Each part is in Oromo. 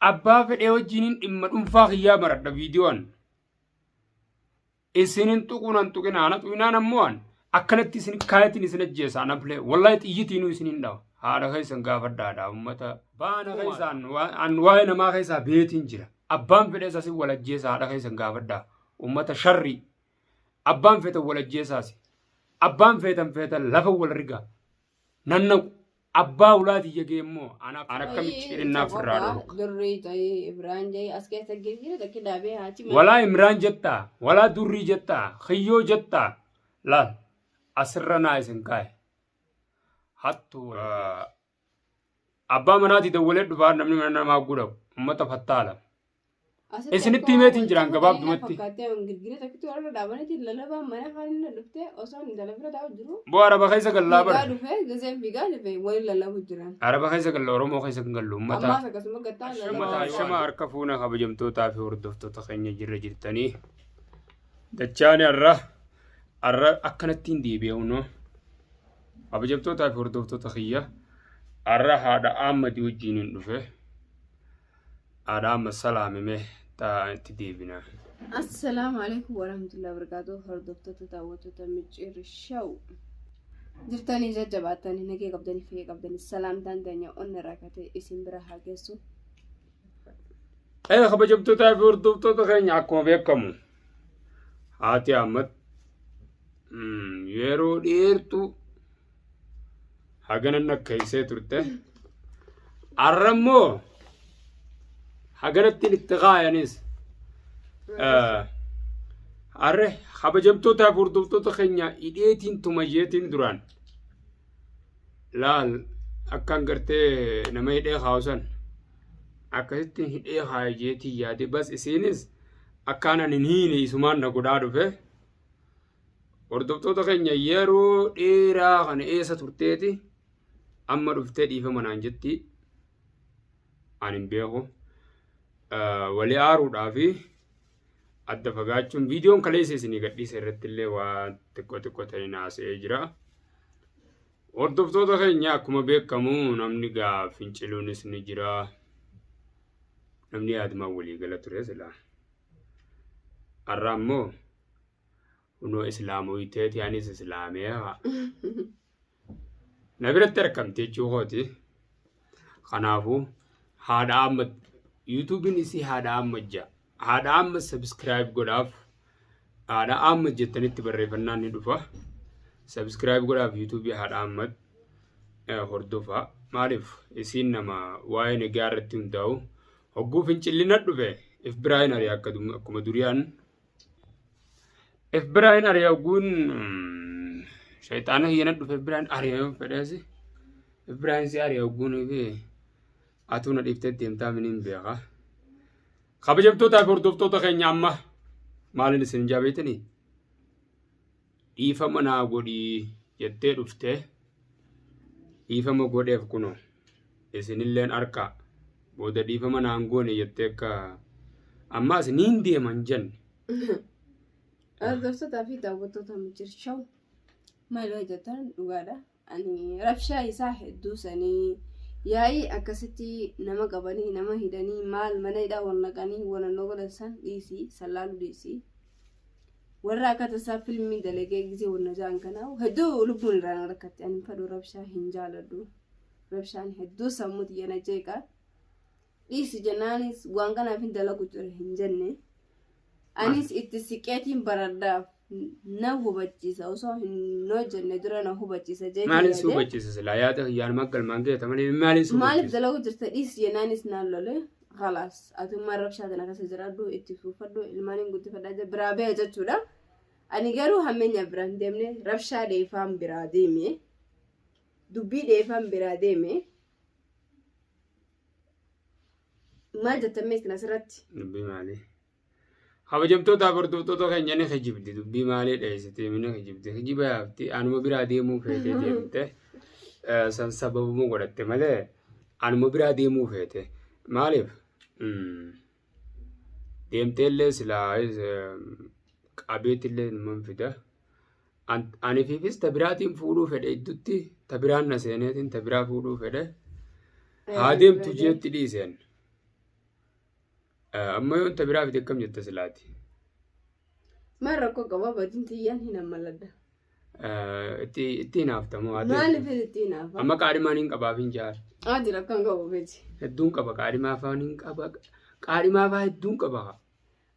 abbaa fedhee wajjiniin dhimma dhuunfaa kiyyaa baradha viidiyoon isinin tuquu nan tuqinaa na tuqinaan ammoo an akkanatti isin kaayatiin isin ajjeesaa na bilee wallahi xiyyitiinuu isin hin dhawa haadha keessan gaafadhaadha ummata baana keessaan an waa'ee namaa keessaa beetiin jira abbaan fedhee isaas wal ajjeesa haadha keessan gaafadhaa ummata sharrii abbaan feetan wal ajjeesaas abbaan feetan feetan lafa wal rigaa nannaqu Abbaa ulaa tiyya geemmoo an akka micciirinnaa firraa dhorka. Durrii ta'ee Ibraan ja'ee as keessa girgira takki daabee haachi malee. Walaa Imraan jettaa, walaa durrii jettaa, kiyyoo jettaa. Laal asirra naa isin kaa'e. Hattuu. Abbaa manaati dawwalee dhufaa namni mana namaa gudhabu. Uummata fattaala. Isinitti himeetiin jiraan gabaabdumatti. Boo araba keessa gallaa bara. Araba keessa galla Oromoo keessa kan gallu uummata. Uummata shama harka fuuna kabajamtootaa fi hordoftoota keenya jirra jirtanii. Dachaani har'a har'a akkanatti hin deebi'u noo. Kabajamtootaa fi hordoftoota kiyya har'a haadha Ahmad wajjin hin dhufe. Haadha amma salaami mee ta'aa itti deebina. Assalaamu alaikum warahmatullahi wabarakatuh hordoftoota daawwattoota micciirri shaw jirtanii jajjabaattanii nagee qabdanii fayya qabdanii salaamtaan teenya onna rakkate isin bira haa geessu. Ee kabajamtootaa fi hordoftoota keenya akkuma beekamu haati amma yeroo dheertuu hagana nakkeessee turte arra immoo haganattiin itti kaayanis arre kabajamtootaa fi hordoftoota keenya hidheetiin tumayyeetiin duraan laal akkaan gartee nama hidhee kaawusan akkasitti hidhee kaayeetiin yaade bas isiinis akkaan ani hin hiine isumaan na godhaa dhufe. Hordoftoota keenya yeroo dheeraa kana eessa turteeti amma dhuftee dhiifama naan jetti an hin beeku walii aaruudhaa fi adda fagaachuun viidiyoon kaleessa isinii gadhiisa irratti illee waa xiqqoo xiqqoo ta'e naasa'ee jira. Hordoftoota keenya akkuma beekamu namni gaa finciluunis ni jira. Namni yaaduma walii gala ture silaa. Har'a ammoo Kunoo islaamooyteeti anis islaameera. Na biratti argamte jechuu kooti. Kanaafuu haadha amma yuutuubiin isii haadha amma ja'a. Haadha amma sabiskiraayib godhaaf. Haadha amma jettanitti barreeffannaan ni dhufa. Sabiskiraayib godhaaf yuutuubii haadha amma hordofaa. Maaliif isiin nama waa'ee nagaa irratti hundaa'u hogguu fincilli na dhufe if biraa hin ari'a akka akkuma duriyaan If biraa hin ari'a ogguun shayxaana hiyyana dhufe if biraa hin ari'a yoo fedheesi. If biraa hin si ari'a ogguun fi atuu na dhiiftee deemtaa miniin beeka. Kabajamtootaa fi hordoftoota keenya amma maaliin isin jaabeetanii? dhiifama naa godhii jettee dhufte dhiifama godheef kuno isinilleen harkaa booda dhiifama naan goone jettee akka ammaas niin deeman jenne. Hordoftoota fi daawwattoota mijir shaw maal hojjetan dhugaadha. ani rabshaa isaa hedduu sanii yaa'ii akkasitti nama qabanii nama hidhanii maal mana hidhaa wal naqanii walannoo godhan san dhiisii san laalu dhiisii warra akka tasaa filmii dalagee gisee wanna ja'an kanaa hedduu lubbuun irraa na rakkatte ani fadhu rabshaa hin jaaladhu rabshaan hedduu sammuu tiyya na jeeqa dhiisi jennaanis waan kanaaf hin dalagu ture hin jenne anis itti siqeetiin baradhaaf na hubachiisa osoo hin hojjenne dura na hubachiisa jeetii Maaliin si yaade. hubachiisa silaa yaada kiyyaan maggal mangeeta malee maaliin si maaliif hubachiisa? dalagu jirta dhiisi jennaanis naan lole khalaas atummaan rabshaa tana keessa jiraadhu itti fuufadhu ilmaan hin guddifadhaa jee biraa ba'e jechuudha ani garuu hammeenya biraa hin deemne rabshaa dheefaan biraa deeme dubbii dheefaan biraa deeme Maal jettan mee isin asirratti? Dubbii maalii? Kabajamtoota hordoftoota keenya ni kijibdi dubbii maalii dheessitee ni kijibdi kijiba yaafti anuma biraa deemuu feetee deemte eh, san sababuma godhatte malee anuma biraa deemuu feete maaliif? Mm. deemteellee silaa qabeetillee numan fida. Anifiifis ta biraatiin fuudhuu fedhe iddutti ta biraan na seeneetiin ta biraa fuudhuu fedhe. Haa deemtu jeetti dhiiseen. Amma yoon ta biraa fide akkam jetta silaati? Maal rakkoo qaba badin tiyyaan hin ammaladda. Itti itti hinaafta moo haa ta'e. Maaliif itti hinaafa? Amma qaadhimaan hin qabaaf hin jaal. Haa jira akkan qabu beeti. Hedduun qaba qaadhimaa afaan hin qaba. Qaadhimaa afaa hedduun qaba.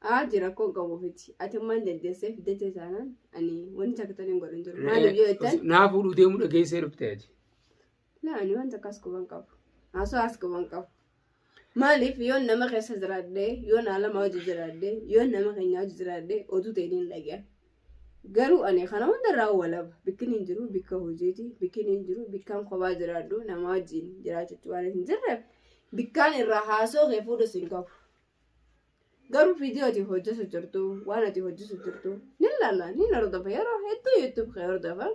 Haa jira akkan qabu beeti. Ati ammaan dandeessee fiddete taanaan ani wanti akka tana hin godhin jiru. Maaliif yoo jettan Naa fuudhuu deemuu dhageessee dhufte ati. Laa ani waan takkaas quban qabu. Haasawaas quban qabu. Maaliif yoon nama keessa jiraadhee, yoon alama hojii jiraadhee, yoon nama keenya hojii jiraadhee oduu ta'e niin dhagaya. Garuu ani kana hundarraa walaba. Bikkin hin jiru bikka hojiiti. Bikkin hin jiru bikkaan kophaa jiraadhu nama wajjin jiraachutti waan hin jirreef bikkaan irraa haasoo kee fuudhus hin qabu. Garuu viidiyoo ati hojjetu jirtu waan ati hojjetu jirtu ni ilaala ni hordofa yeroo hedduu yuutuub kee hordofa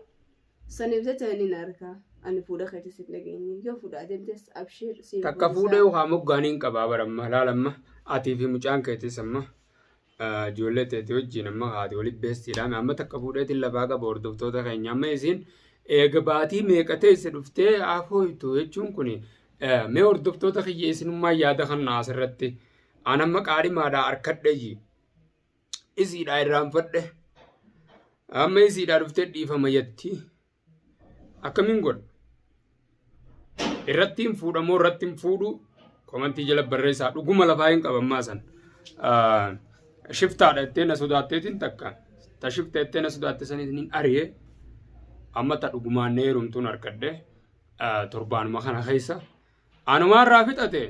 saniif jecha ni arka ani fuudha keetis hin dhageenye yoo fuudha adeemtes abshiir siif Takka gudisaa. fuudhee ukaa moggaanii hin qabaa bara amma laala amma atii fi mucaan keetis amma ah, ijoollee teetii wajjin amma haati waliin beestiidhaan amma takka fuudheetiin lafaa qaba hordoftoota keenya amma isiin eega baatii meeqa teesse dhuftee afooytu jechuun kun Mee hordoftoota kiyya isinummaa yaada kanna asirratti aan amma qaadhimaadhaa harkadhe ji isiidhaa irraanfadhe amma isiidhaa dhuftee dhiifama yatti akkamiin godha irratti hin fuudhamoo irratti hin fuudhu komantii jala barreessaa dhuguma lafaa hin qabammaa san shiftaadha jettee na sodaatteetiin takka ta shifta jettee na sodaatte saniitiin hin ari'e amma ta dhugumaan na heerumtuun harkadhe. torbaanuma kana keessa anumaarraa fixate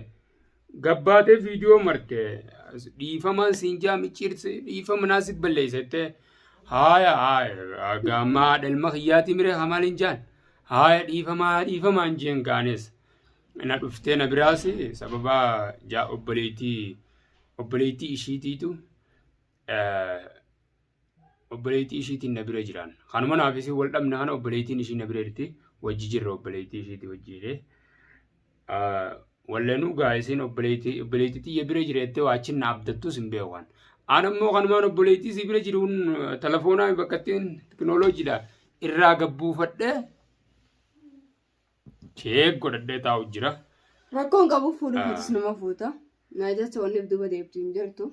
gabbaatee viidiyoo marte dhiifamaan siin jaa micciirse dhiifama naasif balleessette haaya haaya gaammaa dhalma kiyyaatii miree hamaal hin jaan haaya dhiifamaa dhiifamaa hin jeen gaanes na dhuftee na biraas sababa jaa obboleettii obboleettii ishiitiitu obboleettii ishiitiin na bira jiraan. Kanuma naaf isin wal dhabna kana obboleettiin ishii na bira jirti wajji jirra obboleettii ishiitii wajji jedhee. Wallanuu gaa isin obboleettii obboleettii tiyya bira jira jettee waa achiin na abdattus hin beeku kan. Aan ammoo kanumaan obboleettii isii bira jiruun telefoonaa bakka ittiin tekinooloojiidha irraa gabbuufadhee cheek godhadhee taa'u jira. Rakkoon qabu fuudhu fuutus nama fuuta. Naa jecha wanniif duuba deebtu hin jirtu.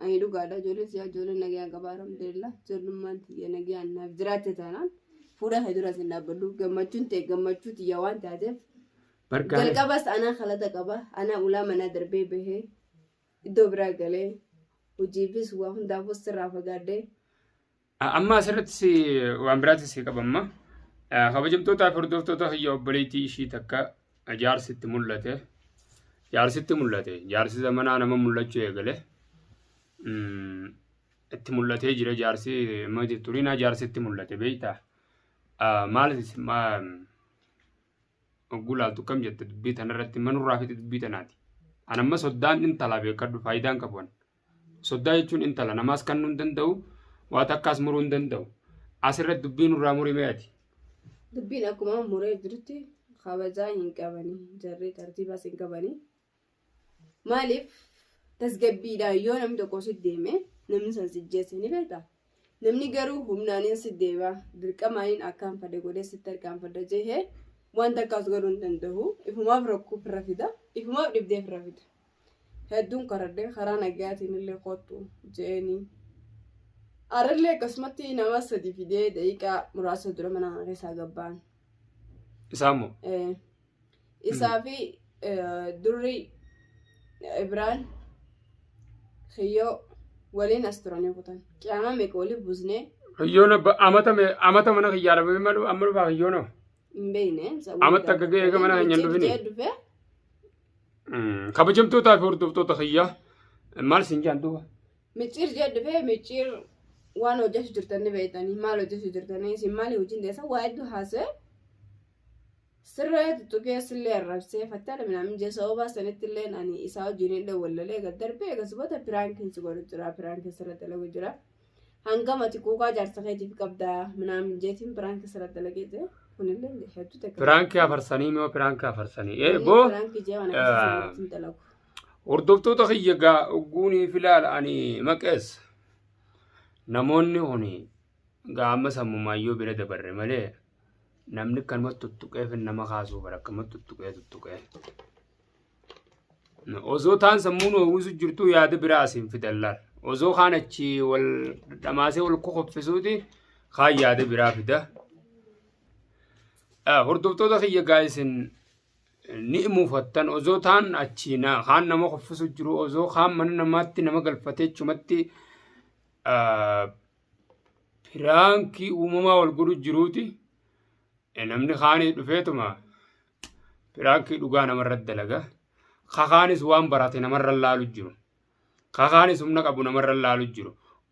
Ani dhugaadha ijoolleen siyaa ijoolleen nagayaan qaba alhamdulillah ijoollummaan tiyya nagayaan naaf jiraatte taanaan fuula kee duras hin dhaabbadhu gammachuun ta'e gammachuu tiyya waan taateef Bargaale. jalqabas anaa kalata qaba anaa ulaa manaa darbee bahee iddoo biraa galee hojiifis waa hundaafus sirraa fagaadhee Amma asirrattis waan biraatis si qabamma. Kabajamtootaaf hordoftoota hiyya obboleettii ishii takka jaarsitti mul'ate. Jaarsitti mul'ate. Jaarsi zamanaa nama mul'achuu eegale. Itti mul'atee jira jaarsi amma turinaa jaarsitti mul'ate beektaa. Maalis hogguu laaltu kam jette dubbii tanarratti manurraa fite dubbii tanaati. Anamma soddaan intala beekadhu faayidaan qabu. Soddaa jechuun intala namaas kannuu hin danda'u, waa takkaas muruu hin danda'u. Asirratti dubbii nurraa murimee ati. Dubbiin akkuma muree jirutti kabajaa hin qabani jarri tartiibaas hin qabani. Maaliif tasgabbiidhaan yoo namni tokko si deeme namni san si jeesse ni beektaa? Namni garuu humnaanin si deeba, dirqamaanin akkaan fada godhee sitti harkaanfadha jehe waan takkaas godhuu hin danda'u. Ifumaaf rakkoo ofirra fida, ifumaaf dhibdee ofirra fida. Hedduun karadhee karaa nagaatiin illee kottu je'eenii. Arrillee akkasumatti nama sadi fidee daqiiqaa muraasa dura mana kana keessaa gabbaan. Isaa immoo Eh, Isaa fi durri Ibraan kiyyoo waliin as turanii kutan. Qiyaamaa meeqa waliin buusnee Hiyyoon abba amata me- amata mana kiyyaa dhabame amma dhu- amma dhufaa hiyyoon hoo? hin beekne. Amma takka ga'ee eega mana keenya hin dhufini. dhufee Mm, Kabajamtootaa fi hordoftoota kiyyaa maal siin jaan duuba? micciir jee dhufee micciir waan hojjetu jirtanii beektanii maal hojjetu jirtanii isin maali hojiin deessa waa hedduu haasa'e Sirree tuttuqees illee arrabsee fattana minaamin jee sababa sanitti illee ani isaa wajjin illee wallalee gad darbee egas bota piraankiin si godhu jira piraankiin sirra dalagu jira. Hangam ati kuukaa jaarsa keetiif qabdaa minaamin jeetiin piraankiin sirra dalagee jira. Kunillee hedduu takka. Piraankii afarsanii moo piraankii afarsanii? Ee boo Piraankii jee waan akkasii hin dalagu. hordoftoota kiyya gaa ogguunii filaal ani maqees namoonni kuni gaa amma sammumaayyoo bira dabarre malee namni akkanumatti tuttuqee fi nama kaasuu bara akkanumatti tuttuqee tuttuqee. Osoo taan sammuun hawwisu jirtu yaada biraa asiin fidan laal. Osoo kaan achi wal dhamaasee wal kokoffisuuti kaan yaada biraa fida. Hordoftoota kiyya gaa'isiin ni muufattan osoo taan achi kaan nama koffisu jiru osoo kaan mana namaatti nama galfatee chumatti piraankii uumamaa wal godhu jiruuti namni kaanii dhufeetuma piraankii dhugaa namarra dalaga kakaanis waan barate namarra laalu jiru kakaanis humna qabu namarra laalu jiru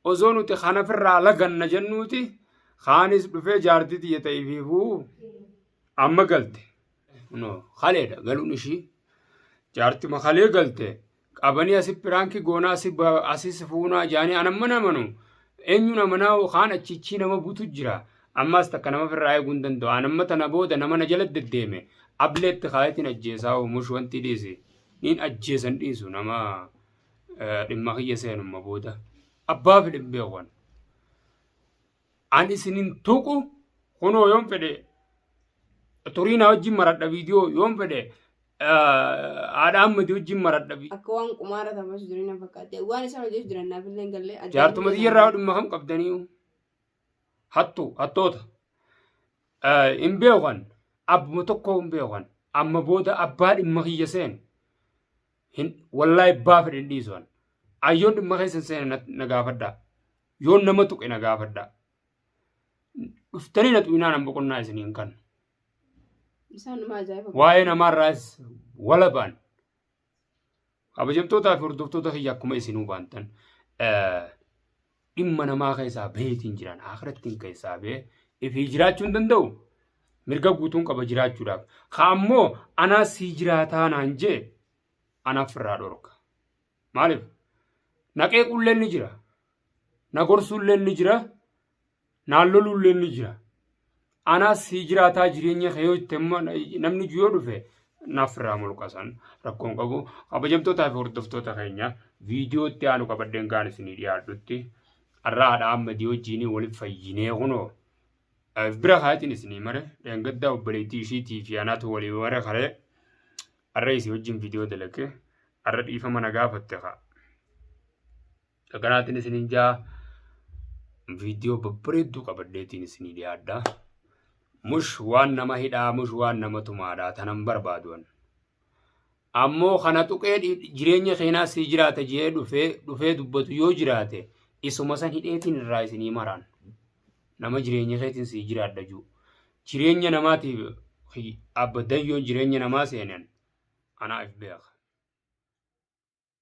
osoo nuti kanafirraa laganna jennuuti kaanis dhufee jaartii tiyya ta'ifiifuu amma galte no kaleedha galuun ishii jaartima kalee galte qabanii asi piraanki goonaa asi ba- asi si fuunaa jaanii an amman amanu eenyuun amanaa kaan achichii nama butu jira ammaas takka nama firraa eeguu hin danda'u an amma tana booda nama na jala deddeeme ableetti kaayatiin ajjeesaa oomush wanti dhiisi niin ajjeesan dhiisu nama eh, dhimma kiyya seenumma booda abbaa fidhin beekuwan An isin hin tuqu kunoo yoon fedhe turii na wajjin maradha viidiyoo yoon fedhe haadha ammati wajjin maradha viidiyoo. Akka waan qumaara taphasu jiran na fakkaate. Waan isaan hojjetu jiran naaf illee hin galle. Jaartuma xiyyarraa dhimma kam qabdanii hattu hattoota hin beekan abbuma tokko hin beekan amma booda abbaa dhimma kiyya seenu hin wallaahi abbaa fedhe hin dhiisan ayyoon dhimma keessa hin seene na gaafadhaa. Yoon nama tuqe na gaafadhaa. Dhuftanii na tuqinaa nan boqonnaa isiniin kan. Isaan dhuma ajaa'iba. Waa'ee namaarraas walabaan. Kabajamtootaa fi hordoftoota kiyya akkuma isinuu baantan eh, dhimma namaa keessaa baheetiin jiran akirattiin keessaa bahee ifii jiraachuu hin danda'u. Mirga guutuun qaba jiraachuudhaaf. Kaammoo anaa sii jiraataa naan jee anaaf irraa dhorka. Maaliif? Na qeequlleen ni jira. Na gorsuulleen ni jira. Naan loluulleen ni jira. Anaas sii jiraataa jireenya kee yoo itti amma namni yoo dhufe naaf irraa mulqasan rakkoon qabu kabajamtootaa fi hordoftoota keenya viidiyoo itti aanu qabadheen kaan isinii dhiyaadhutti har'a haadha ammadii wajjiinii waliif fayyinee kunoo bira kaatiin isinii mare dheengaddaa obboleettii ishiitii fi anaatu walii mare karee Arra isi wajjin viidiyoo dalage arra dhiifama na gaafatte kaa. Dhaganaatiin isinin jaa viidiyoo babbareedduu qabadheetiin isinii dhiyaadha. Mush waan nama hidhaa mush waan nama tumaadhaa tanan barbaaduwan. Ammoo kana tuqee dhi- jireenya keenaa sii jiraata jee dhufee dhufee dubbatu yoo jiraate isuma san hidheetiin irraa isinii maraan. nama jireenya isaatiin sii jiraadha juu jireenya namaatiif hi- abba dayyoon jireenya namaa seenan anaaf beeka.